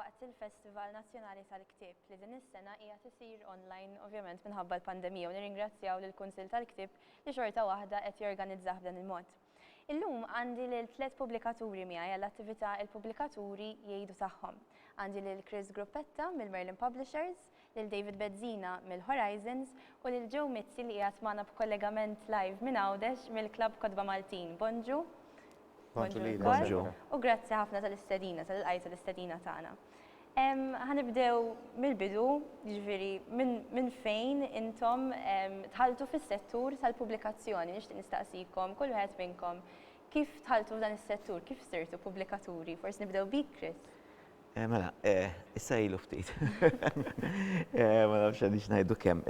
waqt il-Festival Nazzjonali tal-Ktib li din is-sena hija tisir online ovvjament minħabba l-pandemija u nirringrazzjaw lill-Kunsill tal-Ktib li xorta waħda qed jorganizzah b'dan il-mod. Illum għandi lil tliet pubblikaturi miegħi għall-attività Il-Pubblikaturi Jgħidu Tagħhom. Għandi lil Chris Gruppetta mill-Merlin Publishers, lil David Bezzina mill-Horizons u lil Joe Mizzi li qiegħed magħna b'kollegament live minn Għawdex mill-Klabb Kotba Maltin. Bonġu. Bonġu lilek. Bonġu. U grazzi ħafna tal-istedina, tal-ilqajt tal-istedina tagħna. Ħa nibdew mill-bidu, jiġifieri minn fejn intom dħaltu fis-settur tal-pubblikazzjoni. Nixtieq nistaqsikom kull wieħed minnkom kif dħaltu f'dan is-settur, kif sirtu pubblikaturi? Forsi nibdew bik, Chris. Mela, issa ilu ftit. Ma nafx għaliex ngħidu kemm.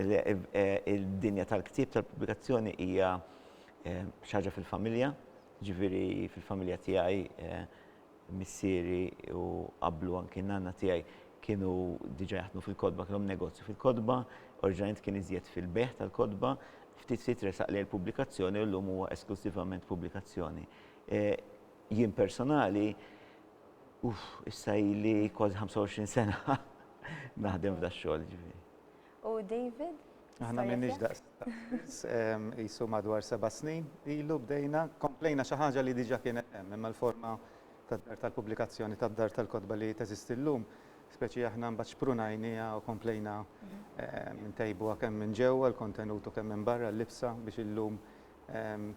Id-dinja tal-ktieb tal-pubblikazzjoni hija xi ħaġa fil-familja, jiġifieri fil-familja tiegħi Missieri u qablu anki n-nanna tiegħi kienu diġà jaħdmu fil-kotba, kellhom negozju fil-kotba, oriġinarjament kien iżjed fil-bejgħ tal-kotba, ftit ftit resaq lejn il-pubblikazzjoni u llum huwa esklużivament pubblikazzjoni. Jien personali, uff, issa ili kważi 25 sena naħdem f'dax-xogħol, jiġifieri. U David? Aħna m'iniex daqs qisu madwar seba' snin ilu bdejna, komplejna xi ħaġa li diġà kienet hemm, imma l-forma tad-dar tal-pubblikazzjoni tad-dar tal-kotba li teżisti llum, speċi aħna mbagħad xprunajniha u komplejna ntejbuha kemm minn ġewwa l-kontenut u kemm minn barra l-libsa biex illum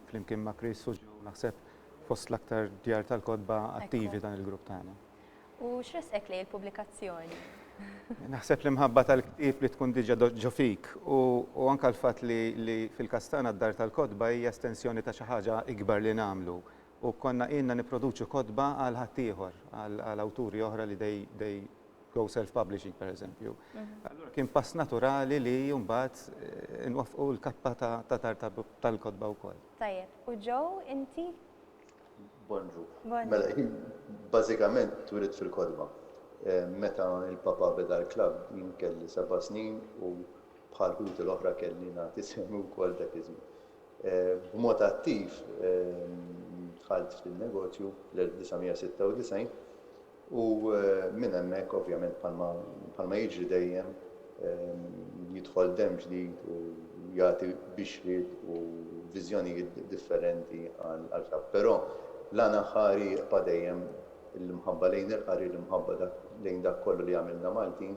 flimkien ma' Chris u Joe naħseb fost l-aktar djar tal-kotba attivi dan il-grupp tagħna. U x'ressqek lejn il-pubblikazzjoni? Naħseb l-imħabba tal-ktieb li tkun diġà ġo fik u anke l-fatt li fil-każ tagħna d-dar tal-kotba hija estensjoni ta' xi ħaġa ikbar li nagħmlu u konna ilna nipproduċu kotba għal ħaddieħor, għal awturi oħra li they go self-publishing pereżempju. Allura kien pass naturali li mbagħad inwaffqu l-kappa ta' dar tal-kotba wkoll. Tajjeb, u Joe inti Bonġu. Mela, hi bażikament twielidt fil-kotba. Meta l-Papa beda l-klabb jien kelli seba' snin u bħal ħuti l-oħra kelli nagħti sehmi wkoll dak iż-żmien. B'mod attiv dħalt fin-negozju fl-1996 U minn hemmhekk, ovvjament, bħalma jiġri dejjem, jidħol demm ġdid u jagħti bixriet u viżjonijiet differenti għall-Ktab. Però l-għan aħħari jibqa' dejjem l-imħabba lejn il-qari, l-imħabba lejn dak kollu li jagħmilna Maltin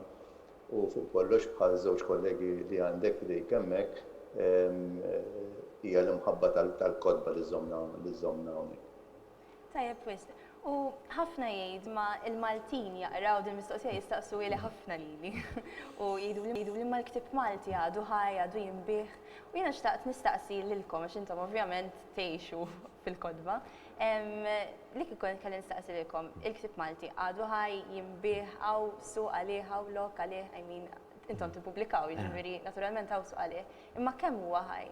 u fuq kollox, bħal żewġ kollegi li għandek f'idejk hemmhekk, hija l-imħabba tal-kotba li żżommna hawnhekk. Tajjeb wisq. U ħafna jgħid ma il-Maltin jaqraw din mistoqsija jistaqsuhieli ħafna lili. U jgħiduli ma l-ktieb Malti għadu ħaj, għadu jinbiegħ. U jiena xtaqt nistaqsi lilkom għax intom ovvjament tgħixu fil-kotba. Li kieku kelli nistaqsi lilkom, il-ktieb Malti għadu ħaj, jinbiegħ, hawn suq għalih, hawn lok għalih, I mean, intom tippubblikaw, jiġifieri naturalment hawn suq għalih. Imma kemm huwa ħaj?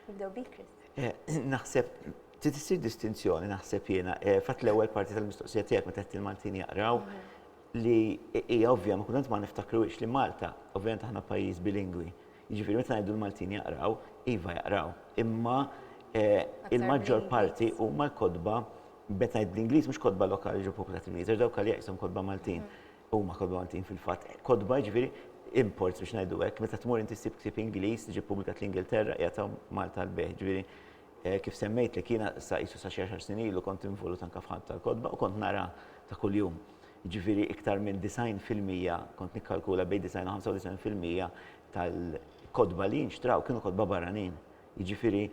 Nibdew bik Chris. Naħseb Trid issir distinzjoni naħseb jiena, eh, fatt l-ewwel parti tal-mistoqsija tiegħek meta qed il-Maltin jaqraw li hija ovvja ma kultant ma niftakruhiex li Malta, ovvjament aħna pajjiż bilingwi. Jiġifieri meta ngħidu l-Maltin jaqraw, iva jaqraw, imma eh, il-maġġor parti huma l-kotba meta ngħid bl-Ingliż mhux kotba lokali ġo popolati Ingliż, għax dawk għalija qishom kotba Maltin. Huma kotba Maltin fil-fatt. Kotba jiġifieri imports biex ngħidu hekk, meta tmur inti ssib ktieb Ingliż li ġie ppubblikat l-Ingilterra qiegħed hawn Malta l-bejħ, ġifieri Kif semmejtlek, jiena sa qisu sa xi għaxar snin ilu kont involut anke f'ħadd tal-kotba u kont nara ta' kuljum. Jiġifieri iktar minn 90 fil-mija, kont nikkalkula bejn 90 u 95 fil-mija tal-kotba li jinxtraw kienu kotba barranin. Jiġifieri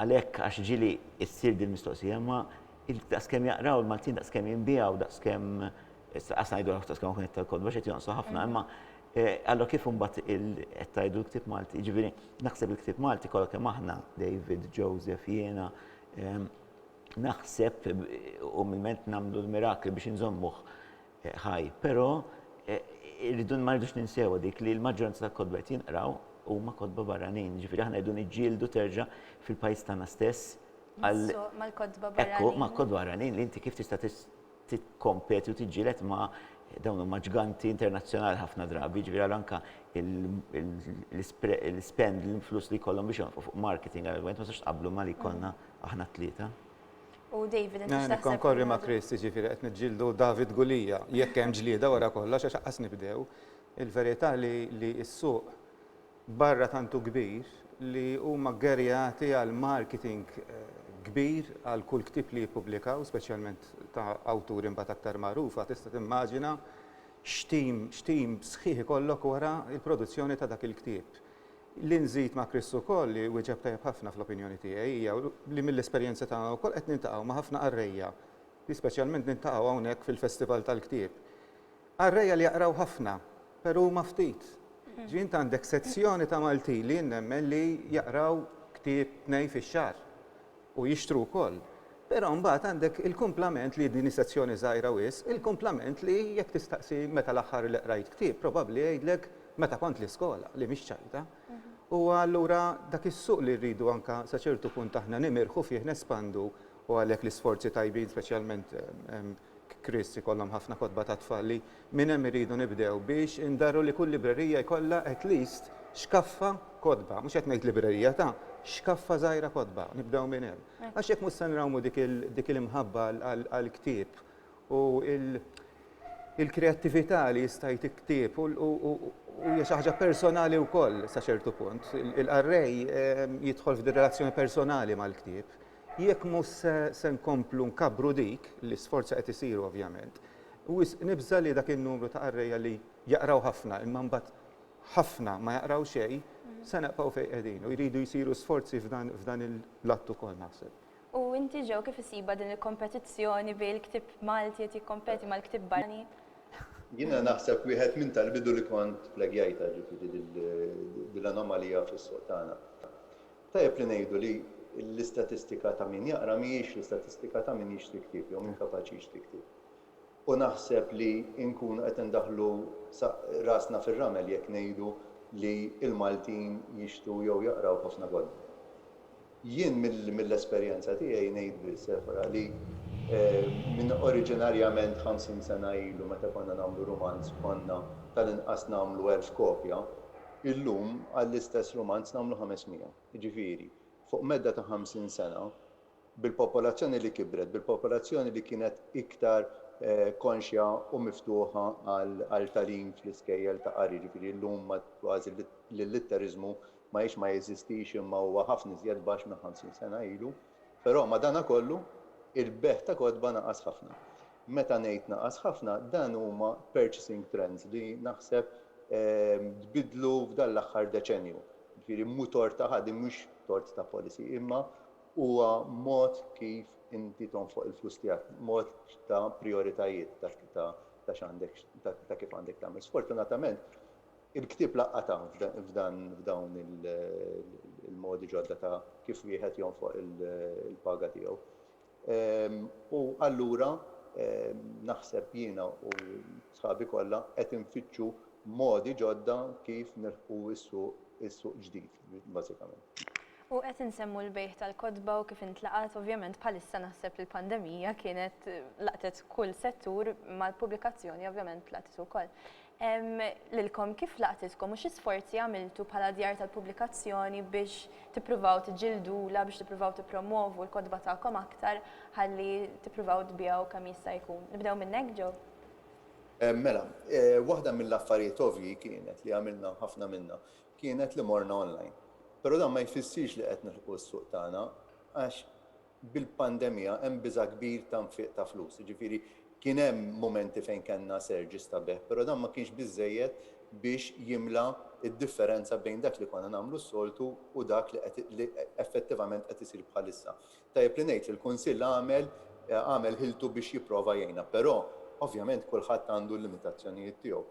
għalhekk għax ġieli ssir din il-mistoqsija, imma daqskemm jaqraw il-Maltin, daqskemm jinbiegħu, daqskemm, qas ngħidu daqskemm hawn qed tal-kotba għax qed jonqsu ħafna, imma Eh, allora kif mbagħad qed tgħidu l-ktieb Malti, jiġifieri naħseb il-ktieb Malti kollha kemm aħna, David, Joseph, jiena, ehm, naħseb u milment nagħmlu l-mirakli biex inżommuh eh, ħaj, però eh, irridu ma rridux ninsewa dik li l-maġġoranza tal-kodba qed jinqraw huma kodba barranin, ġifieri aħna rridu niġġieldu terġa' fil-pajjiż tagħna stess. Mal-kodba barranin. Ekku, ma' kodba barranin li inti kif tista' tikkompeti u tiġġieled ma' dawn huma ġganti internazzjonali ħafna drabi, jiġifieri ara anke l-ispend, l-flus li jkollhom biex jonfqu fuq marketing għal argument ma tistax tqabblu ma' li jkollna aħna t-tlieta. U David, inti x'taħseb? Nikkonkorri ma' Chris, jiġifieri qed niġġieldu David Gulija, jekk hemm ġlieda wara kollox għax aqqas nibdew. Il-verità li s-suq barra tant hu kbir li huma ggerjati għal marketing kbir għal kull ktieb li jippubblikaw, speċjalment ta' awturi mbagħad aktar magħrufa, tista' timmaġina x'team x'team sħiħ ikollok wara l-produzzjoni ta' dak il-ktieb. Li nżid ma' Chris ukoll li wieġeb tajjeb ħafna fl-opinjoni tiegħi hija li mill-esperjenza tagħna wkoll qed niltaqgħu ma' ħafna qarrejja li speċjalment niltaqgħu hawnhekk fil-Festival tal-Ktieb Qarrejja li jaqraw ħafna, pero huma ftit. Ġifieri int għandek sezzjoni ta' Maltin li jien nemmen li jaqraw ktieb tnejn fix-xahar u jixtru wkoll. Pero mbagħad għandek il-kumplament li din hi sezzjoni żgħira wisq, il-kumplament li jekk tistaqsi meta l-aħħar li qrajt ktieb, probabbli jgħidlek meta kont l-iskola, li mhix ċajta. U allura dak is-suq li rridu anke sa ċertu punt aħna nimirħu fih, nespandu u għalhekk l-isforzi tajbin speċjalment Kris ikollhom ħafna kotba tat-tfal li minn hemm irridu nibdew biex indarru li kull librerija jkollha at least xkaffa kotba, mhux qed ngħid librerija ta' xkaffa żgħira kotba, nibdew minn hemm. Għax jekk mhux se nrawmu dik il-imħabba għall-ktieb u l-kreattività li jista' jti ktieb u hija xi ħaġa personali wkoll sa ċertu punt. Il-qarrej jidħol f'relazzjoni personali mal-ktieb. Jekk mhux se se nkomplu nkabbru dik, li sforzi qed isiru ovvjament, wisq nibża' li dak in-numru ta' qarrejja li jaqraw ħafna imma mbagħad ħafna ma jaqraw xejn, se nibqgħu fejn qegħdin u jridu jsiru sforzi f'dan f'dan il-att ukoll naħseb. U inti Joe kif issibha din il-kompetizzjoni bejn il-ktieb Malti qed jikkompeti mal-ktieb barranin? Jiena naħseb wieħed minn tal-bidu li kont plegajtha, ġifieri din l-anomalija fis-suq tagħna. Tajjeb li ngħidu li l-istatistika ta' min jaqra mhijiex l-istatistika ta' min jixti ktieb jew min kapaċi jixti ktieb. U naħseb li nkunu qed indaħħlu rasna fir-ramel jekk ngħidu li l-Maltin jixtu jew jaqraw ħafna kotba. Jien mill-esperjenza tiegħi ngħid biss, Efra, li minn oriġinarjament 50 sena ilu meta konna nagħmlu rumanz konna tal-inqas nagħmlu elf kopja, Illum għall-istess rumanz nagħmlu 500. Jiġifieri, fuq medda ta' 50 sena, bil-popolazzjoni li kibret, bil-popolazzjoni li kienet iktar konxja u miftuħa għal tagħlim fl-iskejjel ta' qari, jiġifieri illum kważi l-illitteriżmu ma hijiex ma jeżistix imma huwa ħafna iżjed baxx minn 50 sena ilu, Però madanakollu, il-bejgħ ta' kotba naqas ħafna. Meta ngħid naqas ħafna, dan huma purchasing trends li naħseb tbiddlu f'dan l-aħħar deċennju. Jiġifieri mhu tort ta' ħadd, din mhux tort ta' policy, imma huwa mod kif inti tonfoq il-flus tiegħek, mod ta' prijoritajiet ta' x'għandek ta' kif għandek tagħmel. Sfortunatament, Il-ktieb laqatha f'dawn il-modi ġodda ta' kif wieħed jonfoq il-paga tiegħu. U allura naħseb jiena u sħabi kollha qed infittxu modi ġodda kif nilħqu s-suq ġdid, bażikament. U qed insemmu l-bejgħ tal-kotba u kif intlaqat, ovvjament bħalissa naħseb li l-pandemija kienet laqtet kull settur mal-pubblikazzjoni ovvjament tlaqtet ukoll. Lilkom, kif laqtitkom u xi sforzi għamiltu bħala djar tal-pubblikazzjoni biex tippruvaw tiġġildulha, biex tippruvaw tippromwovu l-kotba tagħkom aktar ħalli tippruvaw tbigħu kemm jista' jkun? Nibdew minnek, Joe. Mela, waħda mill-affarijiet ovvji kienet, li għamilna ħafna minnha, kienet li morna online. Però dan ma jfissirx li qed nilħqu s-suq tagħna għax Bil-pandemija hemm biża' kbir ta' nfiq ta' flus, jiġifieri kien hemm mumenti fejn kellna surges ta' bejgħ, però dan ma kienx biżżejjed biex jimla d-differenza bejn dak li konna nagħmlu s-soltu u dak li qed li effettivament qed isir bħalissa. Tajjeb li ngħid li l-Kunsill għamel għamel ħiltu biex jipprova jgħinna, però ovvjament kulħadd għandu l-limitazzjonijiet tiegħu.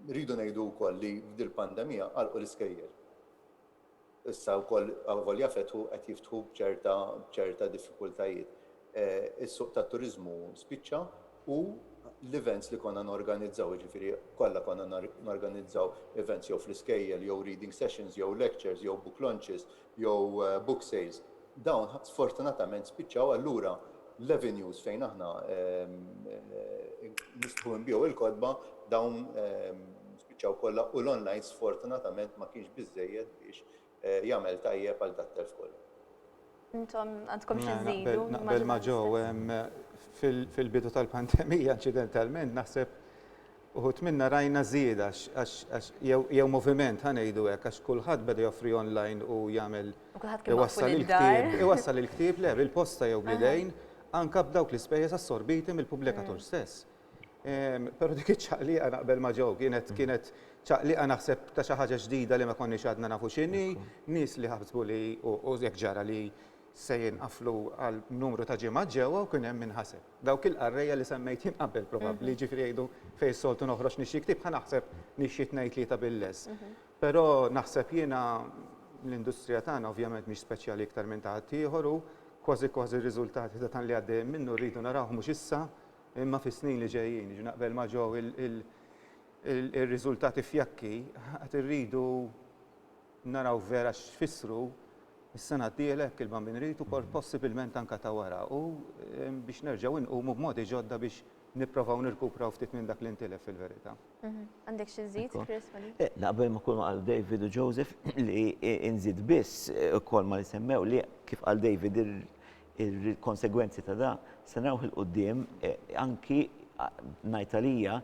Rridu ngħidu wkoll li f'dil-pandemija għalqu l-iskejjel. Issa wkoll avolja fetħu qed jiftħu b'ċerta b'ċerta diffikultajiet. Is-suq tat-turiżmu spiċċa u l-events li konna norganizzaw, jiġifieri kollha konna norganizzaw events jew fl-iskejjel jew reading sessions jew lectures jew book launches jew book sales, dawn sfortunatament spiċċaw allura l-avenues fejn aħna nistħu nbigħu l-kotba dawn Spiċċaw kollha u l-online sfortunatament ma kienx biżżejjed biex jagħmel tajjeb għal dat-telf kollu. Intom għandkom xi żżidu? Naqbel ma' Joe. Fil-bidu tal-pandemija inċidentalment naħseb uħud minna rajna żieda għax jew moviment ħa ngħidu hekk għax kulħadd beda joffri online u jagħmel iwassal il-ktieb. Iwassal il-ktieb le bil-posta jew bl-idejn anke b'dawk l-ispejjeż assorbiti mill-pubblikatur stess. Però dik iċ-ċaqliqa naqbel ma' Joe, kienet kienet ċaqliqa naħseb ta' xi ħaġa ġdida li ma konniex għadna nafu x'inhi, nies li ħasbu li u hekk ġara li se jinqaflu għal numru ta' ġimgħat ġewwa u kien hemm min ħaseb. Dawk il-qarrejja li semmejt jien qabel probabbli, jiġifieri jgħidu fejn soltu noħroġ nixtri ktieb ħa naħseb nixtri tnejn tlieta bil-less. Però naħseb jiena l-industrija tagħna ovvjament mhix speċjali iktar minn ta' ħaddieħor u kważi kważi r-riżultati ta' dan li għaddejjin minnu rridu narawh mhux issa Imma fis-snin li ġejjin, jiġifieri naqbel ma' Jo, ir-riżultati fjakki qed irridu naraw vera x'fissru s-sena d-dieħla jekk il-Bambin Rhit u possibilment anke ta' wara u biex nerġgħu nqumu b'modi ġodda biex nipprovaw nirkupraw ftit minn dak li ntilef fil-verità. Għandek xi żżid, Chris, ma' din? Naqbel ma' kull ma qal David u Joseph li nżid biss ukoll ma' li semmew li kif qal David Il-konsegwenzi ta' dan se narawh 'il quddiem anki ngħid għalija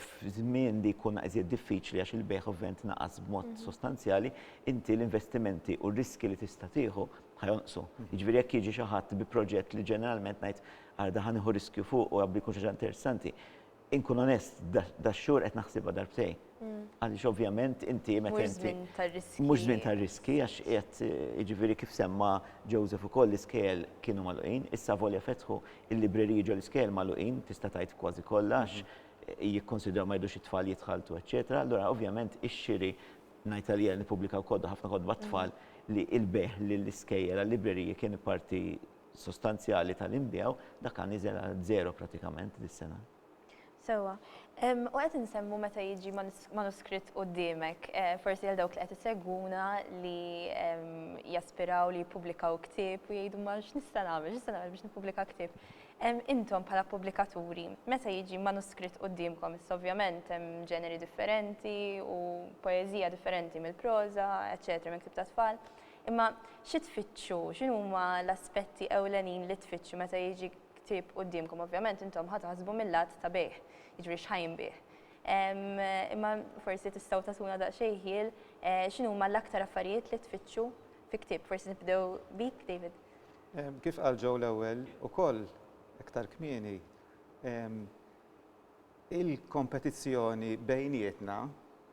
f'żmien li jkun iżjed diffiċli għax il-bejgħ ovvjament naqas b'mod sostanzjali, inti l-investimenti u r-riskji li tista' tieħu ħa jonqsu. Jiġifieri jekk jiġi xi ħadd bi proġett li ġeneralment ngħid, ara dan ħa nieħu riskju fuqu, jabbi jkun xi ħaġa interessanti, Inkun onest, dax-xhur qed naħsibha darbtejn. Għaliex ovvjament inti meta Mhux inti żmien tar-riskji. mhux żmien tar-riskji għax qiegħed jiġifieri kif semma Joseph ukoll l-iskejjel kienu magħluqin, issa avolja fetħu l-libreriji ġo l-iskejjel magħluqin tista' tgħid kważi kollha għax jikkunsidraw ma jridux it-tfal jitħalltu eċċetera, allura ovvjament ix-xiri ngħid għalija nippubblika wkoll ħafna kotba għat-tfal li l-bejgħ lill-iskejjel għal-libreriji kien parti sostanzjali ta' li nbigħu, dak għan niżel għal żero pratikament dis-sena. Sewwa. U qed insemmu meta jiġi manuskritt quddiemek, forsi għal dawk li qed isegwuna li jaspiraw li jippubblikaw ktieb u jgħidu ma x'nista' nagħmel, x'nista' nagħmel biex nippubblika ktieb. Intom bħala pubblikaturi, meta jiġi manuskritt quddiemkom, issa ovvjament hemm ġeneri differenti u poeżija differenti mill-proża, eċċetera, mill-ktieb tat-tfal, Imma xi tfittxu? X'inhuma l-aspetti ewlenin li tfittxu meta jiġi ktieb quddiemkom? Ovvjament intom ħa taħsbu mill-lat ta' bejgħ, jiġri x'ħa jinbiegħ. Imma forsi tistgħu tagħtuna daqsxejn ħjiel eh, x'inhuma l-aktar affarijiet li tfittxu fi ktieb. Forsi nibdew bik, David. Kif qal Joe l-ewwel ukoll iktar kmieni, Il-kompetizzjoni bejnietna,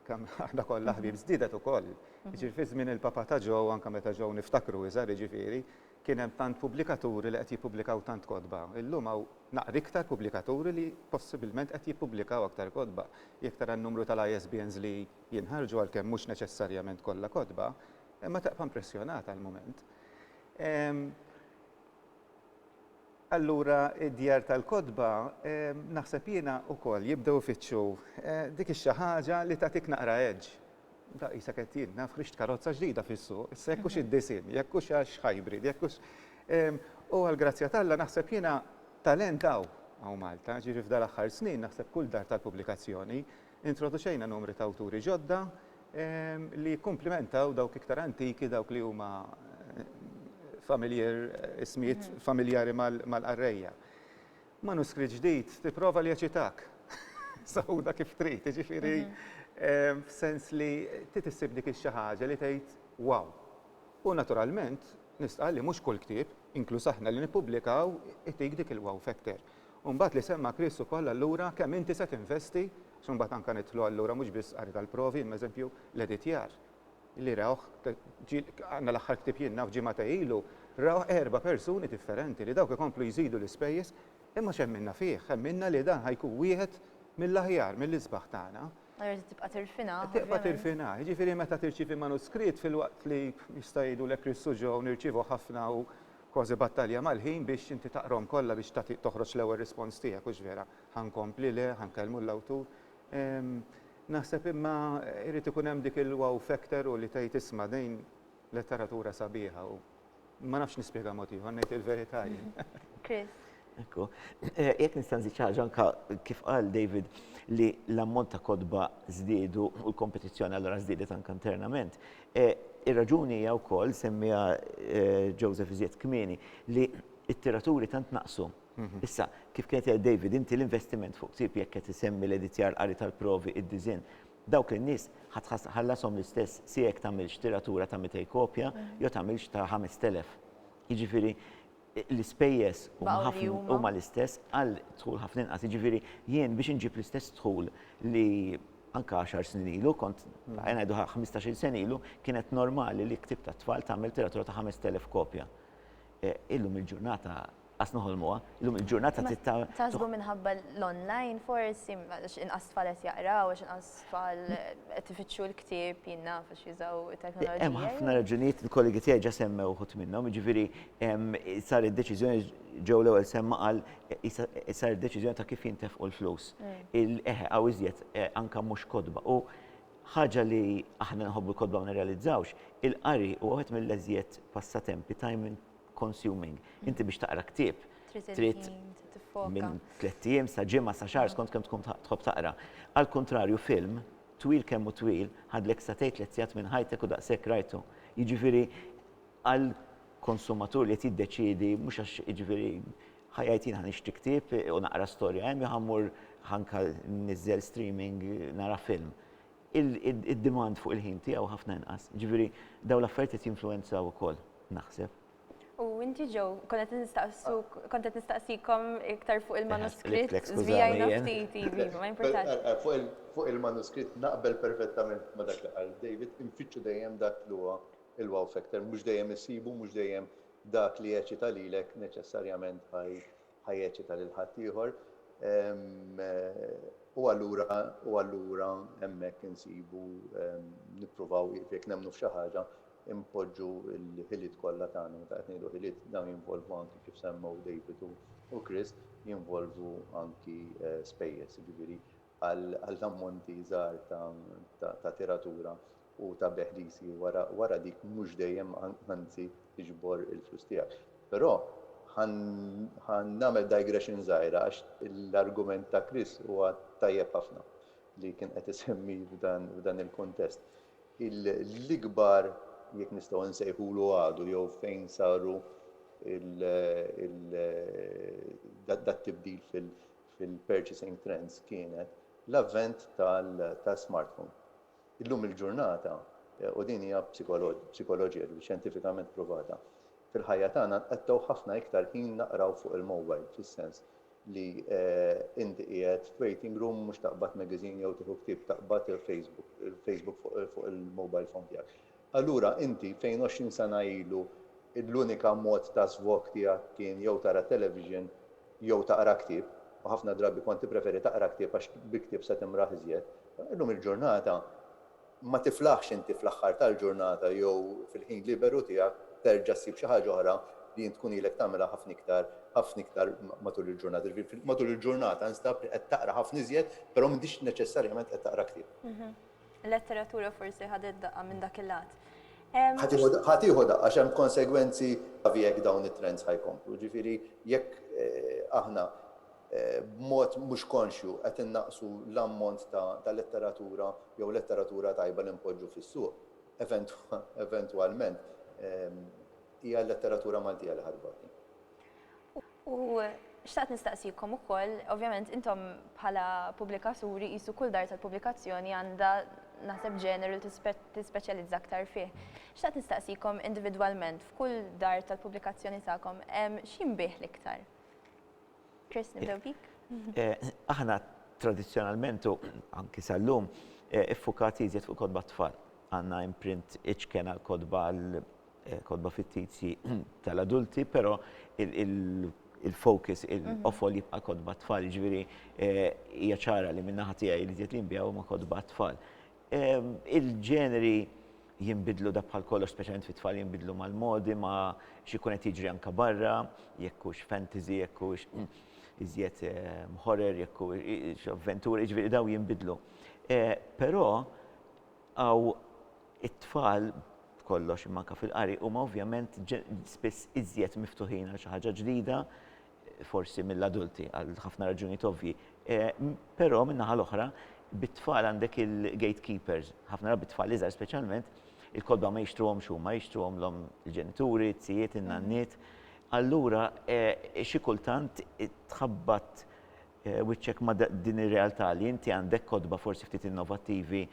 kemm aħna kollha ħbieb, żdiedet ukoll. Jiġifieri fi żmien il-Papa ta' Joe, u anke meta Joe niftakru iżgħar jiġifieri, kien hemm tant pubblikaturi li qed jippubblikaw tant kotba. Illum hawn naqra iktar pubblikaturi li possibilment qed jippubblikaw aktar kotba. Jekk tara n-numru tal-ISBNs li jinħarġu, għalkemm mhux neċessarjament kollha kotba, ma tibqa' impressjonat għall-mument. Allura d-djar tal-kotba, naħseb jiena, ukoll jibdew ifittxu dik ix-xi ħaġa li tagħtik naqra edge. Daqq qisek qed jien naf ħriġt karozza ġdida fis-suq, issa jekk hux id-disinn, jekk hux għax hybrid, jekk hux. U għall-grazzja t'Alla naħseb jiena talent hawn, hawn Malta, jiġifieri f'dal-aħħar snin naħseb kull dar tal-pubblikazzjoni Introduċejna numri ta' awturi ġodda li jikkumplimentaw dawk iktar antiki, dawk li huma familiar, ismijiet familjari mal-qarrejja. Manuskritt ġdid tipprova li jeċitak. Sawda kif trid, jiġifieri f'sens li trid issib dik ix-xi ħaġa li tgħid wow. U naturalment nistqarr li mhux kull ktieb, inkluż aħna li nippubblikaw, itik dik il-wow factor. U mbagħad li semma Chris ukoll allura kemm inti se tinvesti, għax imbagħad anke nidħlu allura mhux biss qari tal-provi imma eżempju l-editjar li rawh għandna l-aħħar ktieb jien naf ġimgħatej ilu rawh erba' persuni differenti li dawk ikomplu jżidu l-ispejjeż imma x'hemminna fih, ħemminna li dan ħa jkun wieħed mill-aħjar, mill-isbaħ tagħna. Allura trid tibqa' tirfinah. Trid tibqa' tirfinah. Jiġifieri meta tirċievi manuskritt filwaqt li jista' jgħidulek Chris u Joe nirċievu ħafna u Kważi battalja mal-ħin biex inti taqrahom kollha biex tagħti toħroġ l-ewwel rispons tiegħek, hux vera? Ħa nkompli, le, ħa nkellmu l-awtur. Naħseb imma jrid ikun hemm dik il-wow factor u li tgħid isma' din letteratura sabiħa u ma nafx nispjegha mod ieħor, ngħid il-verità jien. Chris. Ekku. Eh, jekk nista' nżid xi ħaġa anke kif qal David li l-ammont ta' kodba żdiedu u l-kompetizzjoni allura żdiedet anke internament. Eh, ir-raġuni hija wkoll semmiha eh, Joseph iżjed kmieni li t-tiraturi tant naqsu. Mhm. Issa, kif kienet jgħid David, inti l-investiment fuq ktib jekk qed isemmi l-editjar qari tal-provi id-diżin dawk in-nies ħallasom l-istess si jekk tagħmilx tiratura ta' 200 kopja mhm. jew tagħmilx ta' 5000. Jiġifieri l-ispejjeż huma l-istess għal dħul ħafna inqas. Jiġifieri jien biex inġib l-istess dħul li anke għaxar snin ilu kont ngħidu ħmistax-il sena ilu kienet normali li ktieb tat-tfal tagħmel tiratura ta' 5,000 kopja. E, illum il-ġurnata qas noħolmuha, illum il-ġurnata tista' Taħsbu minħabba l-online forsi inqas tfal qed jaqraw għax inqas Tfal qed ifittxu l-ktieb, jien naf għax jużaw it-teknoloġija. Hemm ħafna raġunijiet, il-kollegi tiegħi ġa semmew uħud minnhom, jiġifieri saret deċiżjoni, Joe l-ewwel semma qal saret deċiżjoni ta' kif jintefqu l-flus. Eħe, hawn iżjed anke mhux kotba. U ħaġa li aħna nħobbu l-kotba ma nirrealizzawx, il-qari huwa wieħed mill-eżjed passatempi ta' consuming. Inti biex taqra ktieb trid minn tliet ijiem sa ġimgħa sa xahar skont kemm tkun tħobb taqra. Għal kuntrarju film twil kemm u twil ħadlek sa tgħid tliet sigħat minn ħajtek u daqshekk rajtu. Jiġifieri għal konsumatur li qed jiddeċiedi mhux għax jiġifieri ħajjajt jien ħanixtri ktieb u naqra storja hemm jew ħammur ħanka niżżel streaming nara film. id-demand fuq il-ħin tiegħu ħafna inqas. Jiġifieri dawn l-affarijiet qed jinfluwenzaw ukoll, naħseb. U inti Joe, kont qed nistaqsuk, kont qed nistaqsikom iktar fuq il-manuskritt, żvijajna ftit, iva, ma jimpurtax. Fuq il-manuskritt naqbel perfettament ma' dak li qal David, infittxu dejjem dak li huwa l-wow factor, mhux dejjem issibu, mhux dejjem dak li jeċċita lilek neċessarjament ħa ħa jeċċita lil ħaddieħor, u allura u allura hemmhekk insibu nippruvaw jekk nemmnu f'xi ħaġa impoġġu l-ħiliet kollha tagħna meta qed ngħidu ħiliet dawn jinvolvu anki kif semmew David u Chris jinvolvu anki eh, spejjeż, jiġifieri għal ammonti żgħar ta' tiratura u ta' beħlisi wara dik mhux dejjem anzi tiġbor il-flus tiegħek. Però ħa nagħmel digression żgħira għax l-argument ta' Chris huwa tajjeb ħafna li kien qed isemmi f'dan il-kuntest. L-ikbar, jekk nistgħu insejħulu għadu jew fejn saru dat-tibdil fil-purchasing trends kienet l-avvent tas-smartphone. Illum il-ġurnata, u din hija psikoloġija xjentifikament pruvata, fil-ħajja tagħna nqattgħu ħafna iktar ħin naqraw fuq il-mowbajl, fis-sens li inti qiegħed f'waiting room mhux taqbad magazine jew tieħu ktieb, taqbad il-Facebook, il-Facebook fuq il-mowbajl phone tiegħek. Allura inti, fejn għoxrin sena ilu l-unika mod ta' żvog tiegħek kien jew tara t-television jew taqra ktieb, u ħafna drabi kont tippreferi taqra ktieb għax bi ktieb se timraħ iżjed, illum il-ġurnata ma tiflaħx inti fl-aħħar tal-ġurnata jew fil-ħin liberu tiegħek terġa' ssib xi ħaġa oħra li int tkun ilek tagħmilha ħafna iktar, ħafna iktar matul il-ġurnata. Jiġifieri matul il-ġurnata instab li qed taqra ħafna iżjed, però m'intix neċessarjament qed taqra ktieb. Letteratura forsi ħadet daqqa minn dak il-lat. Ħa tieħu daqqa għax hemm konsegwenzi gravi jekk dawn it-trends ħa jkomplu. Ġifieri jekk aħna b'mod mhux konxju qed innaqqsu l-ammont ta' letteratura jew letteratura tajba li npoġġu fis-suq, eventwalment hija l-letteratura Maltija li ħa tbati. U xtaqt nistaqsikom ukoll, ovvjament intom bħala pubblikaturi qisu kull dar tal-pubblikazzjoni għandha naħseb ġeneru li tispeċjalizza aktar fih. Xtaqt nistaqsikom individwalment f'kull dar tal-pubblikazzjoni tagħkom x'jinbiegħ l-iktar? Chris, nibdew bik. Aħna tradizzjonalment u anki sal-lum iffukati iżjed fuq kotba t-tfal. Għandna imprint iċken għall-kotba Kotba fittizji tal-adulti, però il-focus, il-qofol jibqa' kotba tfal, ġifieri hija ċara li min-naħa tiegħi li żied li nbiegħu huma kotba tfal. Il-ġeneri jinbidlu dak bħal kollox, speċjalment fit-tfal jinbidlu mal-modi, ma' x'ikun qed jiġri anke barra, jekk hux fantasy, jekk hux iżjed horror, jekk hux avventura, jiġifieri dawn jinbidlu. Però Hawn it-tfal, b'kollox, imma anke fil-qari, huma ovvjament spiss iżjed miftuħin għal xi ħaġa ġdida, forsi mill-adulti, għal ħafna raġunijiet ovvji. Però, min-naħa l-oħra, bit-tfal għandek il-gatekeepers, ħafna drabi t-tfal iżgħar speċjalment, il-kotba ma jixtruhomx huma, jixtruhomlhom il-ġenituri, it-tijiet, in-nanniet. Allura, xi kultant tħabbat wiċċek ma' din ir-realtà li inti għandek kotba forsi ftit innovattivi,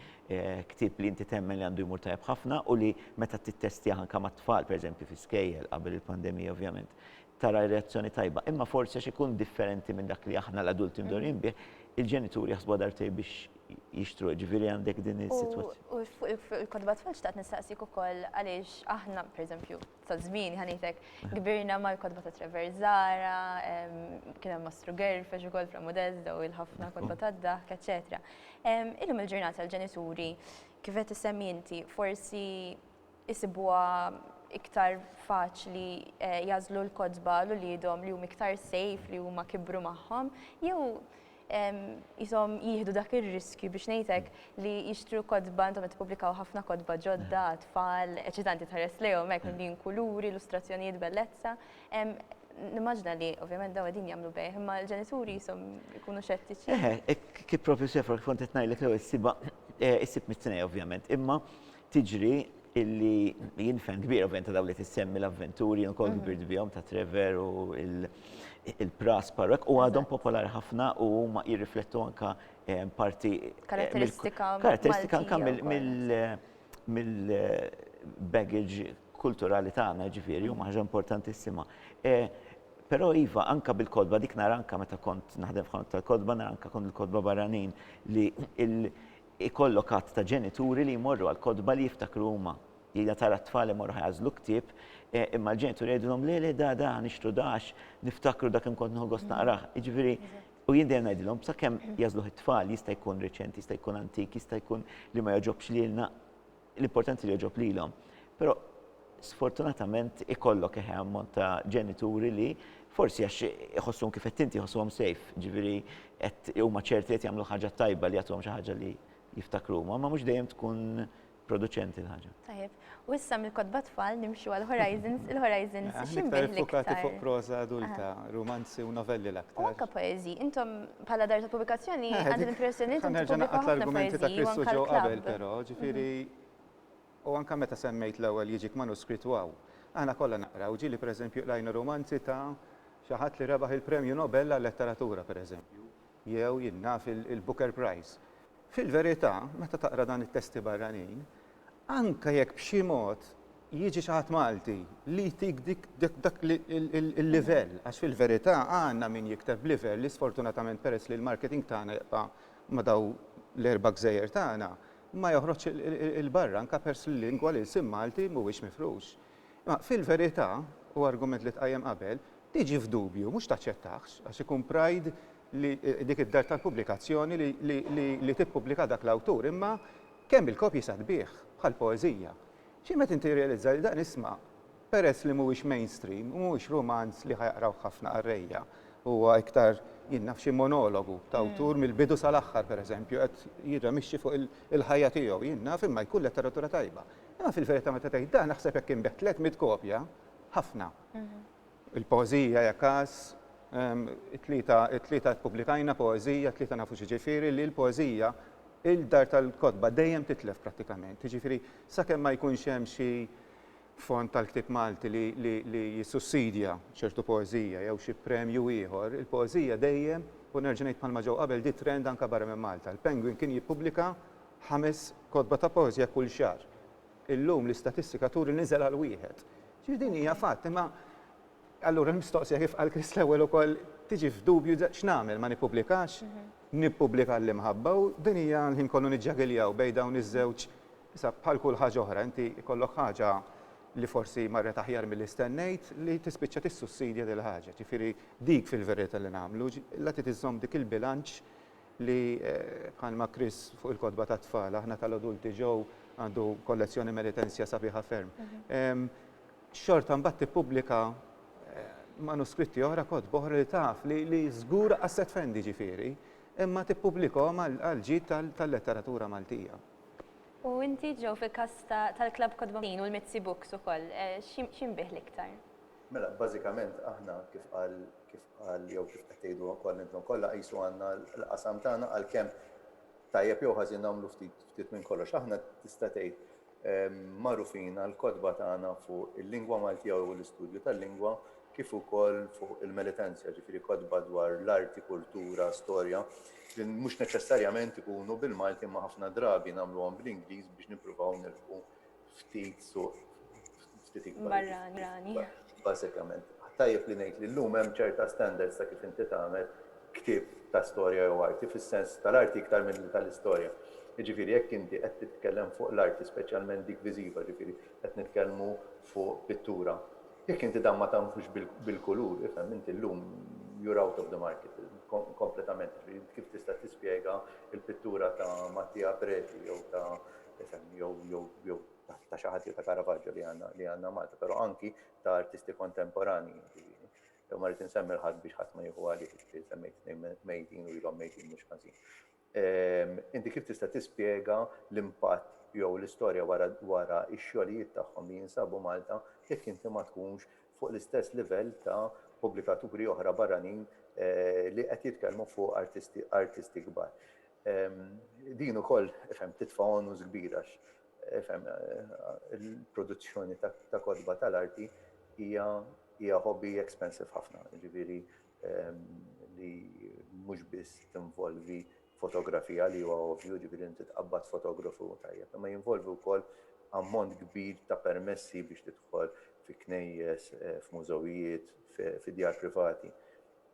ktieb li inti temmen li għandu jmur tajjeb ħafna u li meta tittestjah anke mat-tfal, pereżempju fi skejjel, qabel il-pandemija ovvjament, tara reazzjoni tajba. Imma forsi għax ikun differenti minn dak li aħna l-adulti mdorrijin bih, il-ġenituri jaħsbuha darbtejn biex jixtruh, ġifieri għandek din is-sitwazzjoni. U fuq il-kotba tfal xtaqt nistaqsik ukoll għaliex aħna, pereżempju, Sa żmieni ħa ngħidlek, kbirna mal-kotba ta' Trevor Zara, kien hemm Mastru Gerfex ukoll fl-Amudez daw il-ħafna kotba tad-daħk, eċċetera. Illum il-ġurnata l-ġenituri kif qed issemmi inti forsi isibuha iktar faċli jagħżlu l-kotba għal uliedhom li huma iktar safe li huma kibru magħhom jew qishom jieħdu dak ir-riskju biex ngħidlek li jixtru kotba intom qed tippubblikaw ħafna kotba ġodda, tfal, eċitanti tħares lejhom hekk mimlin kuluri, illustrazzjonijiet bellezza. Nimmaġina li ovvjament dawn qegħdin jagħmlu bejgħ, imma l-ġenituri qishom ikunu xettiċi. Eħe, kif propju Sefra kif kont qed ngħidlek l-ewwel issibha issib mit-tnejn ovvjament, imma tiġri illi jien fan kbir ovvjament ta' dawn li tissemmi l-avventuri, jien ukoll kbirt bihom ta' Trevor u il-Pras Parrok u għadhom popolari ħafna u huma jirriflettu anka eh, parti eh, Karatteristika mill- karatteristika anka Maltija mill- wkoll. mill- mill-baggage kulturali tagħna ġifieri huma ħaġa importantissima. Eh, Però iva anka bil-kodba dik nara anka meta kont naħdem f'ħanut tal-kodba nara anka kont il-kodba barranin li il- Ikollok għadd ta' ġenituri li jmorru għall-kotba li jiftakru huma. Jgħidha tara t-tfal li jmorru ħajagħżlu ktieb, imma l-ġenituri jgħidulhom le le da da nixtru da għax niftakru da kemm kont nieħu gost naqrah. Jiġifieri, u jien dejjem ngħidilhom sakemm jagħżluh it-tfal jista' jkun reċenti, jista' jkun antik, jista' jkun li ma jogħġobx lilna, L-importanti li jogħġob lilhom. Però sfortunatament ikollok eħe ammont ta' ġenituri li forsi għax iħossuhom kif qed inti jħossuhom safe, ġifieri qed huma ċerti qed jagħmlu ħaġa tajba li jagħtuhom xi ħaġa li jiftakru huma, ma mhux dejjem tkun produċenti l-ħaġa. Tajjeb. U issa mill-kotba tfal nimxu għal Horizons, il-Horizons x'inbih l-iktar? Fokati fuq proża adulta, rumanzi u novelli l-aktar. U anke poeżi, intom Bħala dar ta' pubblikazzjoni eh, għandi l-impressjoni li tinti pubblika ħafna pajjiżi u anke ġew qabel però, mhm. ġifieri u anke meta semmejt l-ewwel jiġik manuskritt waw. Aħna kollha naqraw ġieli pereżempju qlajna romanzi ta' xi ħadd li rebaħ il-Premju Nobel għal-Letteratura pereżempju, jew jinnaf il-Booker Prize. Fil-verità, meta taqra dan it-testi barranin, Anke jekk b'xi mod jiġi xi ħadd Malti li jtik dik dak il-livell, għax fil-verità għandna min jikteb b'livell li sfortunatament peress li l-marketing tagħna jibqa' ma' dawn l-erba' gżejjer tagħna, ma joħroġx 'il barra anke peress li l-lingwa, l-ilsien Malti mhuwiex mifrux. Imma fil-verità, u argument li tqajjem qabel, tiġi f'dubju, mhux taċċettahx, għax ikun pride li dik id-dar tal-pubblikazzjoni li tippubblika dak l-awtur, imma Kemm il-kopji saħbieh, bħal poeżija. Xi meta inti tirrealizza li dan isma', peress li mhuwiex mainstream u mhuwiex rumanz li ħa jaqrawh ħafna qarrejja, huwa iktar, jien naf, xi monologu ta' awtur mill-bidu sal-aħħar, pereżempju, qed jirramixxi fuq il-ħajja tiegħu, jien naf, imma jkun letteratura tajba. Imma fil-verità meta tgħid dan, aħseb jekk inbiegħ tliet mitt kopja, ħafna. Il-poeżija hija każ, it-tlieta, it-tlieta ppubblikajna poeżija, t-tlieta nafu x'jiġifieri li l-poeżija, il-dar tal-kotba dejjem titlef prattikament. Jiġifieri sakemm ma jkunx hemm xi fond tal-ktieb Malti li, li, li jissussidja ċertu poeżija jew xi premju ieħor, il-poeżija dejjem, u nerġa' ngħid bħalma ġew qabel, di trend anke barra minn Malta. Il-Penguin kien jippubblika ħames kotba ta' poeżija kull xahar. Illum l-istatistika turi li niżel għal wieħed. Ġifieri din hija fatt, imma allura l-mistoqsija kif qal Chris l-ewwel ukoll tiġi f'dubju x'nagħmel ma nippubblikax, nippubblika għall-imħabba u din hija l-ħin kollu niġġagiljaw bejn dawn iż-żewġ issa bħal kull ħaġa oħra inti jkollok ħaġa li forsi marret aħjar milli stennejt li tispiċċa tissussidja dil-ħaġa. Ġifieri dik fil-verità li nagħmlu, la trid iżżomm dik il-bilanċ li bħalma Chris fuq il-kotba tat-tfal, aħna tal-adulti Joe għandu kollezzjoni Meritensja sabiħa ferm. Xorta mbagħad tippubblika manuskritti oħra, kotba oħra li taf li żgur qas se tfendi ġifieri, imma tippubblikhom għall-ġid tal-letteratura Maltija. U inti Joe fil-każ tal-Klabb Kotba Maltin u l-Mizzi Books ukoll, x'jinbigħ l-iktar? Mela, bażikament aħna, kif qal, kif qal jew kif qed tgħidu wkoll intom kollha, qisu għandna l-qasam tagħna għalkemm tajjeb jew ħażin nagħmlu ftit, ftit minn kollox. Aħna tista' tgħid magħrufin għall-kotba tagħna fuq il-lingwa Maltija u l-istudju tal-lingwa kif ukoll fuq il-militenzja, ġifieri kotba dwar l-arti, kultura, storja li mhux neċessarjament ikunu bil-Malti imma ħafna drabi nagħmluhom bl-Ingliż biex nippruvaw nilħqu ftit suq ftit ikbar. Barrani. Bażikament. Tajjeb li ngħid li llum hemm ċerta standards ta' kif inti tagħmel ktieb ta' storja jew arti fis-sens tal-arti iktar milli tal-istorja. Jiġifieri jekk inti qed titkellem fuq l-arti speċjalment dik viżiva, jiġifieri qed nitkellmu fuq pittura, jekk inti dan ma tagħmlux bil-kulur, ifhem inti llum you are out of the market kompletament. Jiġifieri int kif tista' tispjega l-pittura ta' Mattia Preti jew ta' tifhem, jew ta' xi ħadd, jew ta' Caravaggio li għandna li għandna Malta, però anki ta' artisti kontemporanji, jiġifieri. Jew ma rrid insemmi l-ħadd biex ħadd ma jieħu għalih, jiġifieri semmejt tnejn mejtin u ilhom mejtin mhux ħażin. Inti kif tista' tispjega l-impatt jew l-istorja wara wara x-xogħlijiet tagħhom li jinsabu Malta jekk inti ma tkunx fuq l-istess livell ta' pubblikaturi oħra barranin li qed jitkellmu fuq artisti artisti kbar. Din ukoll titfa' onus kbir għax il-produzzjoni ta' kotba tal-arti hija hobby expensive ħafna, jiġifieri li mhux biss tinvolvi fotografija li huwa ovvju, jiġifieri inti tqabbad fotografu tajjeb, imma jinvolvi wkoll ammont kbir ta' permessi biex tidħol fi knejjes, f'mużewijiet, fi djar privati.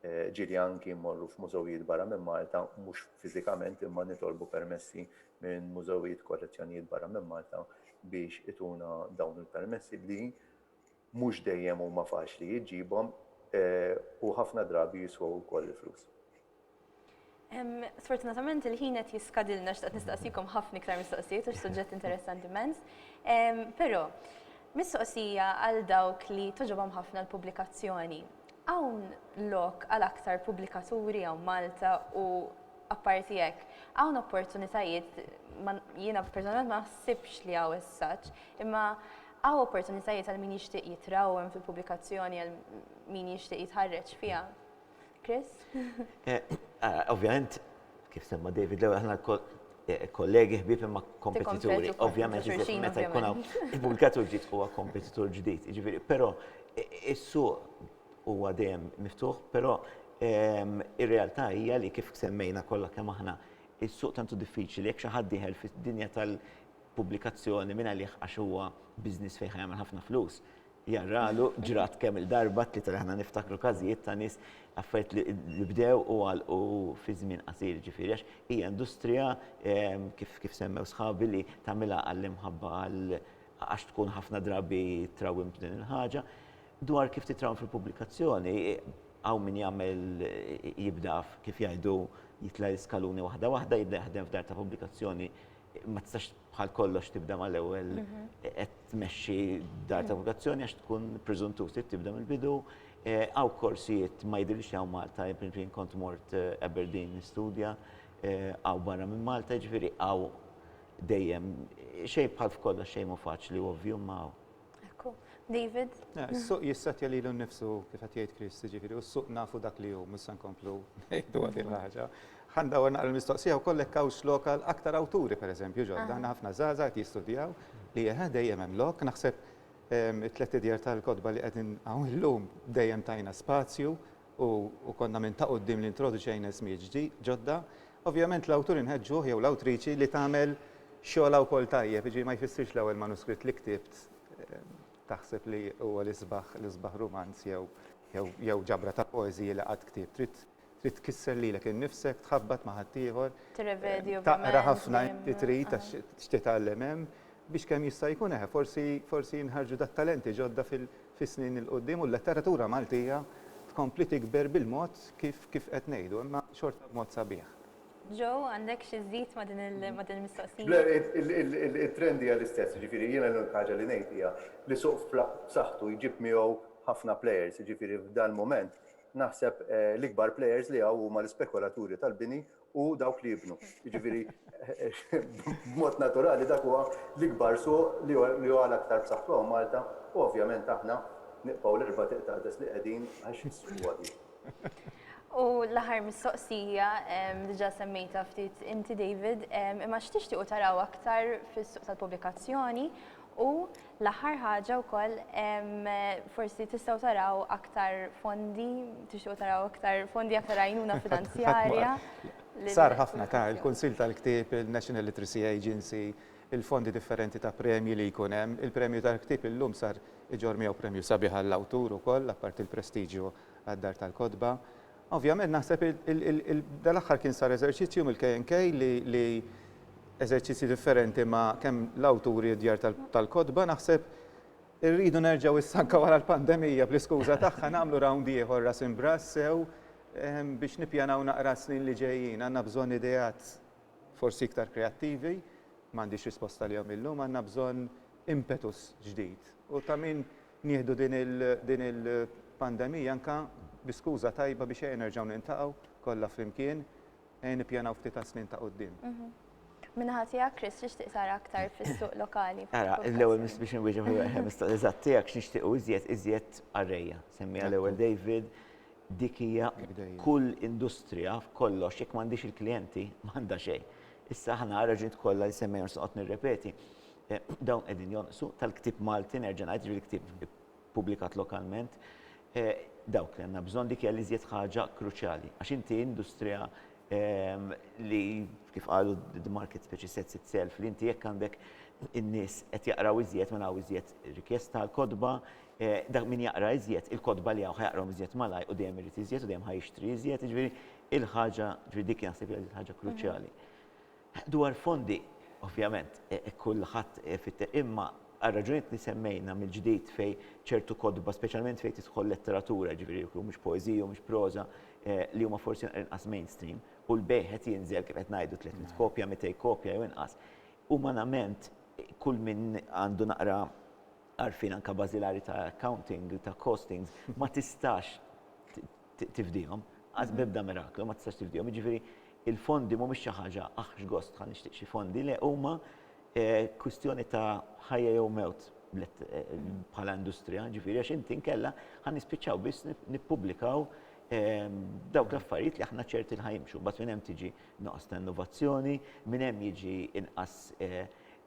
Ġieli anki mmorru f'mużewijiet barra minn Malta, mhux fiżikament imma nitolbu permessi minn mużewijiet, kollezzjonijiet barra minn Malta biex ituna dawn il-permessi li mhux dejjem huma faċli iġġibhom u ħafna drabi jiswew ukoll il-flus. Sfortunatament il-ħin qed jiskadilna x'taqt nistaqsikom ħafna iktar mistoqsijiet għax suġġett interessanti immens. Però, mistoqsija għal dawk li toġobhom ħafna l-pubblikazzjoni. Hawn lok għal aktar pubblikaturi hawn Malta u apparti hekk, hawn opportunitajiet jiena personalment ma naħsibx li hawn is-saġġ, imma hawn opportunitajiet għal min jixtieq jitrawwem fil-pubblikazzjoni għal min jixtieq jitħarreġ fiha? Chris? Ovvjament, kif semma David l-ewwel aħna kollegi ħbib imma kompetituri. Ovvjament, meta jkun hawn il-pubblikatur ġdid huwa kompetitur ġdid. Jiġifieri, però is-suq huwa dejjem miftuħ, però ir-realtà hija li kif semmejna kollha kemm aħna, is-suq tantu diffiċli jekk xi ħadd dieħel fid-dinja tal-pubblikazzjoni minn għalih għax huwa business fejn ħa jagħmel ħafna flus, Jarralu, ġrat kemm-il darba t-tlieta li aħna niftakru każijiet ta' nies, affarijiet li li bdew u għalqu fi żmien qasir, jiġifieri għax hija industrija kif kif semmew sħabi li tagħmilha għall-imħabba għal għax tkun ħafna drabi trawwim b'din il-ħaġa. Dwar kif titrawwem fil-pubblikazzjoni, hawn min jagħmel jibda kif jgħidu jitla' l-iskaluni waħda waħda, jibda jaħdem f'dar ta' pubblikazzjoni, ma tistax bħal kollox tibda mal-ewwel mhm. qed tmexxi dar ta' vokazzjoni għax tkun preżuntur trid tibda mill-bidu. Eh, għaw korsijiet ma jidhirx hawn Malta, jien kont mort eh, Aberdeen nistudja, eh, għaw barra minn Malta, ġifieri għaw dejjem xejn bħal f'kollox xejn ma faċli ovvju ma Ekku. David? Eh, is-suq jissetja lilu nnifsu kif qed jgħid Chris, jiġifieri u s-suq nafu dak li hu, mhux se nkomplu ngħidu għadin ħaġa. Ħanda għor naqra l-mistoqsija wkoll hekk hawnx lokal aktar awturi pereżempju ġodda, għandna ħafna żgħażagħ qed jistudjaw li eħe dejjem hemm lok, naħseb ehm, it-tlet idjar tal-kotba li qegħdin hawn illum dejjem tajna spazju u konna minn ta' qudiem li introduċejna ismijiet ġodda, Ovvjament l-awtur inħeġġuh jew l-awtriċi li tagħmel xogħolha wkoll tajjeb, jiġifieri ma jfissirx l-ewwel manuskritt li ktibt taħseb li huwa l-isbaħ l-isbaħ rumanz jew jew jew ġabra ta' poeżiji li qatt ktibt. Trid trid tkisser lilek innifsek, tħabbat ma' ħaddieħor, Tirrevedi taqra ovvjament ħafna dejjem. inti trid għax titgħallem hemm. biex kemm jista' jkun eħe forsi forsi jinħarġu da' talenti ġodda fil fis-snin il-quddiem u l-letteratura Maltija tkompli tikber bil-mod kif kif qed ngħidu imma xorta b'mod sabiħ. Joe, għandek xi żżid ma' din il ma' din il-mistoqsija? Le, it-trend hija l-istess, jiġifieri jiena l-unika ħaġa li ngħid hija li suq b'saħħtu jġib miegħu ħafna players, jiġifieri f'dal-mument naħseb l-ikbar players li hawn huma l-ispekulaturi tal-bini u dawk li jibnu. Jiġifieri b'mod naturali dak huwa l-ikbar suq li huwa l-aktar b'saħħtu hawn Malta u ovvjament aħna nibqgħu l-erba' tieq taqdes li qegħdin għax is-suq huwa dik. U l-aħħar mistoqsija, diġà semmejtha ftit inti David, imma x'tixtiequ taraw aktar fis-suq tal-pubblikazzjoni u L-aħħar ħaġa wkoll, forsi tistgħu taraw aktar fondi, tixtiequ taraw aktar fondi, aktar għajnuna finanzjarja. Sar ħafna ta' il-Kunsill tal-Ktieb, il-National Literacy Agency, il-fondi differenti ta' premji li jkun hemm. Il-Premju tal-Ktieb illum sar iġorr miegħu premju sabiħ għall-awtur ukoll, apparti l-prestiġju għad-Dar tal-Kotba. Ovvjament naħseb dal-aħħar kien sar eżerċizzju mill-KNK li eżerċizzji differenti ma' kemm l-awturi u d-djar tal-kotba naħseb irridu nerġgħu issa anke wara l-pandemija bl-iskuża tagħha nagħmlu round ieħor ras imb'ras sew ehm, biex nippjanaw naqra s-snin li ġejjin. Għandna bżonn ideat forsi iktar kreattivi, m'għandix risposta lihom illum, għandna bżonn impetus ġdid. U ta' min Nieħdu din il-pandemija anke bi skuża tajba biex ejja nerġgħu niltaqgħu kollha flimkien, ejja nippjanaw ftit għas-snin ta' quddiem. Min-naħa tiegħek, Chris, x'tixtieq tara aktar fis-suq lokali? Ara, l-ewwel mistoqsija biex inwieġeb il-mistoqsija eżatt tiegħek, x'nixtiequ iżjed, iżjed arrejja. Semmiha l-ewwel David, dik hija kull industrija f'kollox jekk m'għandhiex il-klijenti m'għandha xejn. Issa aħna għar-raġunijiet kollha li semmejna u se noqgħod nirrepeti, Dawn qegħdin jonqsu, tal-ktieb Malti nerġa' ngħid, jiġifieri ktieb ippubblikat lokalment. Dawk li għandna bżonn, dik hija l-iżjed ħaġa kruċjali. Għax inti industrija li kif qalu the market speċi sets itself, li inti jekk għandek in-nies qed jaqraw iżjed mela hawn iżjed rikjesta għall-kotba, dak min jaqra iżjed, il-kotba li hawn ħa jaqrahom iżjed malajr u dejjem irid iżjed u dejjem ħa jixtri iżjed, jiġifieri l-ħaġa, jiġifieri dik naħseb hija l-ħaġa kruċjali. Dwar fondi, ovvjament, kulħadd ifittex, imma għar-raġunijiet li semmejna mill-ġdid fejn ċertu kotba, speċjalment fejn tidħol letteratura, jiġifieri jekk humiex poeżiji, humiex proża, li huma forsi naqra inqas mainstream, u l-bejgħ qed jinżel kif qed ngħidu tliet mitt kopja, mitej kopja jew inqas, umanament kull min għandu naqra għarfien anke bażilari ta' accounting, ta' costings, ma tistax tifdihom, qas b'ebda miraklu ma tistax tifdihom. Jiġifieri il-fondi mhumiex xi ħaġa aħ x'gost ħa nixtieq xi fondi, le huma kwistjoni ta' ħajja jew mewt bħala industrija, ġifieri għax inti nkella ħa nispiċċaw biss nippubblikaw dawk l-affarijiet li aħna ċerti li ħajimxu. Mbagħad minn hemm tiġi noqos ta' innovazzjoni, minn hemm jiġi inqas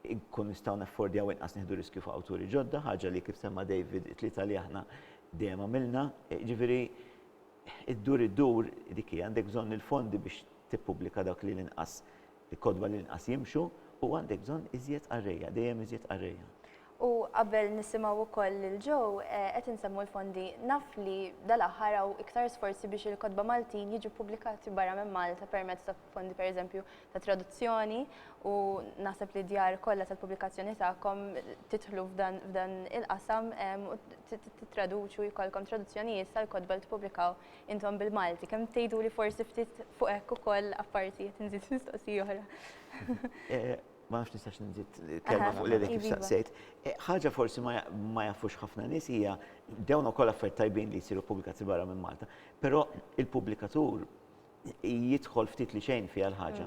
nkun nistgħu naffordjaw inqas nieħdu riskju f'awturi ġodda, ħaġa li kif semma' David it-tlieta li aħna Dejjem għamilna, jiġifieri ddur iddur dik hi, għandek bżonn il-fondi biex tippubblika dawk li l-inqas, il-kotba li l-inqas jimxu u għandek bżonn iżjed qarrejja, dejjem iżjed qarrejja. U qabel nisimgħu wkoll lil Joe, qed insemmu l-fondi, naf li dal-aħħar hawn iktar sforzi biex il-kotba Maltin jiġu ppubblikati barra minn Malta permezz ta' fondi pereżempju ta' traduzzjoni u naħseb li djar kollha tal-pubblikazzjoni tagħkom titħlu f'dan il-qasam u tittraduċu jkollkom traduzzjonijiet tal-kotba li tippubblikaw intom bil-Malti. Kemm tgħidu li forsi ftit fuq hekk ukoll apparti qed nżid mistoqsi oħra. Eh, ma nafx nistax nżid kelma fuq li kif saqsejt. Eh, ħaġa forsi ma jafux ħafna nies hija dawn ukoll affarijiet tajbin li jsiru pubblikazzjoni barra minn Malta, però il-pubblikatur jidħol ftit li xejn fiha l-ħaġa.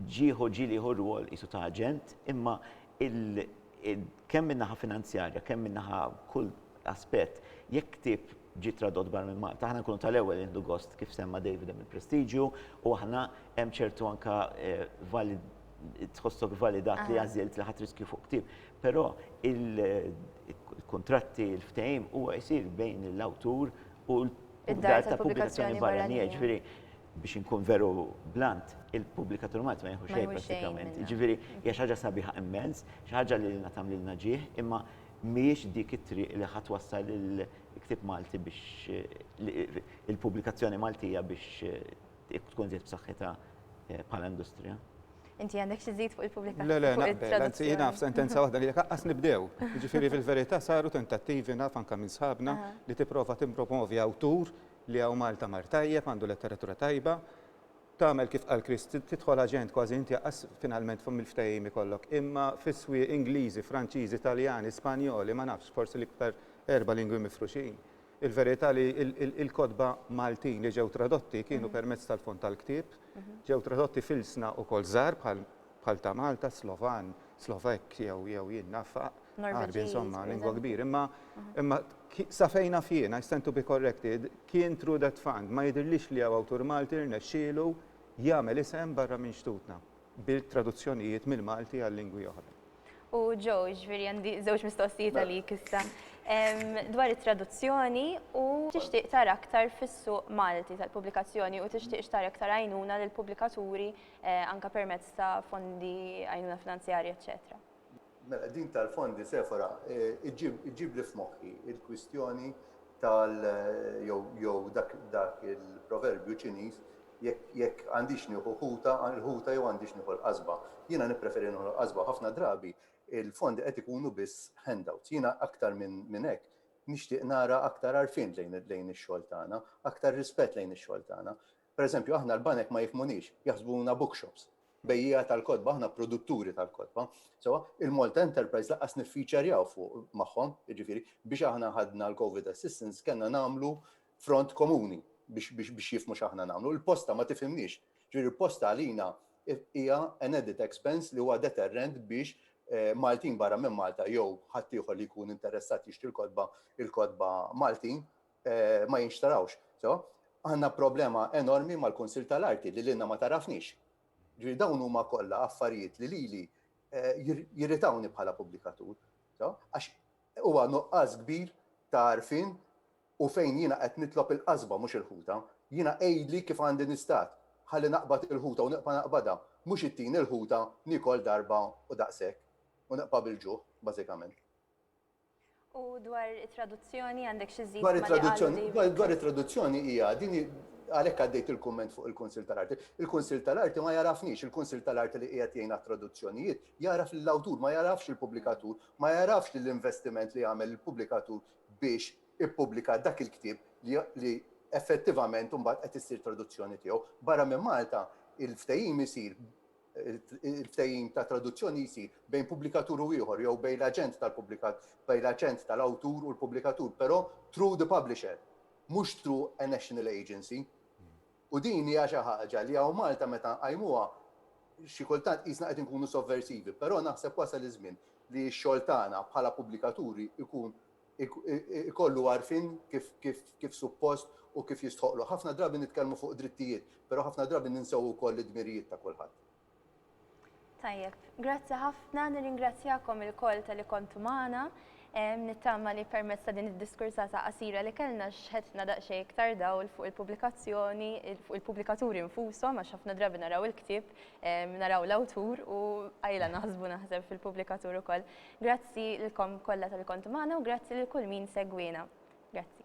Ġieħu ġilieħu rwol qisu ta' aġent, imma kemm min-naħa finanzjarja, kemm min-naħa kull aspett, jekk ktieb ġie tradott barra minn Malta, aħna nkunu tal-ewwel nieħdu gost kif semma David hemm il-prestiġju u aħna hemm ċertu anke tħossok validat li għażilt li ħadd riskju fuq ktieb. Però il-kuntratti, il-ftehim huwa jsir bejn l-awtur u Id-dar tal-pubblikazzjoni barranija, jiġifieri biex inkun veru blunt, il-pubblikatur Malti ma jieħu xejn prattikament. Jiġifieri hija xi ħaġa sabiħa immens, xi ħaġa li lilna tagħmlilna ġieħ, imma mhijiex dik it-triq li ħa twassal il-ktieb Malti biex il-pubblikazzjoni Maltija biex tkun żied b'saħħitha eh, bħala industrija. Inti għandek xi żid fuq il-pubblikazzjoni. Le, le, naqbel, anzi jiena f'sentenza waħda li jekk aqqas nibdew. Jiġifieri fil-verità saru tentattivi naf anke minn sħabna li tipprova timpromovi awtur li hawn Malta mar tajjeb, għandu letteratura tajba, tagħmel kif qal Chris, tidħol aġent kważi inti għas finalment fuq mill-ftehim ikollok. Imma fiswi Ingliżi, Franċiżi, Italjani, Spanjoli, ma nafx, forsi l-iktar erba' lingwi mifruxin. Il-verità li l-kotba Maltin li ġew tradotti kienu permezz tal-fond tal-ktieb, ġew tradotti f'ilsna wkoll żgħar bħal ta' Malta, Slovan, Slovakk jew jew jien naf Għarbi insomma, lingwa kbira. Imma imma sa fejn naf jien, I stand to be corrected, kien through that fund. Ma jidhirlix li hawn awtur Malti rnexxielu jagħmel isem barra minn xtutna. bil-traduzzjonijiet mill-Malti għal lingwi oħra. U Joe, ġviri għandi żewġ mistoqsijiet mela. għalik issa. Dwar it-traduzzjoni u tixtieq tara aktar fis-suq Malti tal-pubblikazzjoni u tixtieq xtara aktar għajnuna lill-pubblikaturi eh, anka permezz ta' fondi għajnuna finanzjarja, eċċetera. Mela, din tal-fondi, Sephora, iġġibli f'moħħi l-kwistjoni tal-, jew dak il-proverbju Ċiniż, jekk għandix nieħu ħuta, il-ħuta jew għandix nieħu l-qasba. Jiena nippreferi nieħu l-qasba. Ħafna drabi l-fondi qed ikunu biss handouts. Jiena aktar minn hekk nixtieq nara aktar għarfien lejn ix-xogħol tagħna, aktar rispett lejn ix-xogħol tagħna. Per eżempju, aħna l-banek ma jifmunix, jaħsbuna bookshops, bejjija tal-kodba, aħna produtturi tal-kodba. So, il-Malta Enterprise laqqas niffiċerjaw fuq magħhom, jiġifieri biex aħna ħadna l-COVID assistance kellna nagħmlu front komuni biex biex biex jifmu x'aħna nagħmlu. Il-posta ma tifhimniex. Ġifieri posta għalina hija an edit expense li huwa deterrent biex eh, Maltin barra minn Malta jew ħaddieħor li jkun interessat jixtri l-kodba il-kodba Maltin ma jinxtarawx. So, għandna problema enormi mal-Kunsill tal-Arti li lilna ma tarafnix. Ġifieri dawn huma kollha affarijiet li lili eh, jirritawni bħala pubblikatur. So, għax huwa nuqqas kbir ta' arfin u fejn jiena qed nitlob il-qasba mhux il-ħuta, jiena għidli kif għandi nistat ħalli naqbad il-ħuta u naqba naqbada, mhux it-tin il-ħuta nikol darba u daqshekk u naqba bil-ġuħ, bażikament. U dwar it-traduzzjoni għandek xi żżid ma' li qalu li. Dwar it-traduzzjoni hija din għalhekk għaddejt il-kumment fuq il-Kunsill tal-Arti. Il-Kunsill tal-Arti ma jagħrafnix, il-Kunsill tal-Arti li qiegħed jgħin għat-traduzzjonijiet jagħraf lill-awtur, ma jagħrafx il-pubblikatur, ma jagħrafx lill-investiment li għamel il-pubblikatur biex ippubblika dak il-ktieb li effettivament imbagħad qed issir traduzzjoni tiegħu. Barra minn Malta, il-ftehim isir il-ftehim ta' traduzzjoni jsir bejn pubblikatur u ieħor jew bejn l-aġent tal-pubblikat bejn l-aġent tal-awtur u l-pubblikatur, però through the publisher, mhux through a national agency. U din hija xi ħaġa li hawn Malta meta nqajmuha xi kultant qisna qed inkunu sovversivi, però naħseb wasal iż-żmien li x-xogħol tagħna bħala pubblikaturi jkun ikollu għarfien kif suppost u kif jistħoqqlu. Ħafna drabi nitkellmu fuq drittijiet, però ħafna drabi ninsew ukoll id-dmirijiet ta' kulħadd. Tajjeb, grazzi ħafna, nirringrazzjakom ilkoll tal-li kontu magħna. Nittama li permezz ta' din id-diskursata qasira li kellna xħetna daqsxejn iktar dawl fuq il-pubblikazzjoni, fuq il-pubblikaturi nfushom għax ħafna drabi naraw il-ktieb, naraw l-awtur u qajla naħsbu naħseb fil-pubblikatur ukoll. Grazzi lilkom kollha talli kontu magħna u grazzi lil kull min segwiena. Grazzi.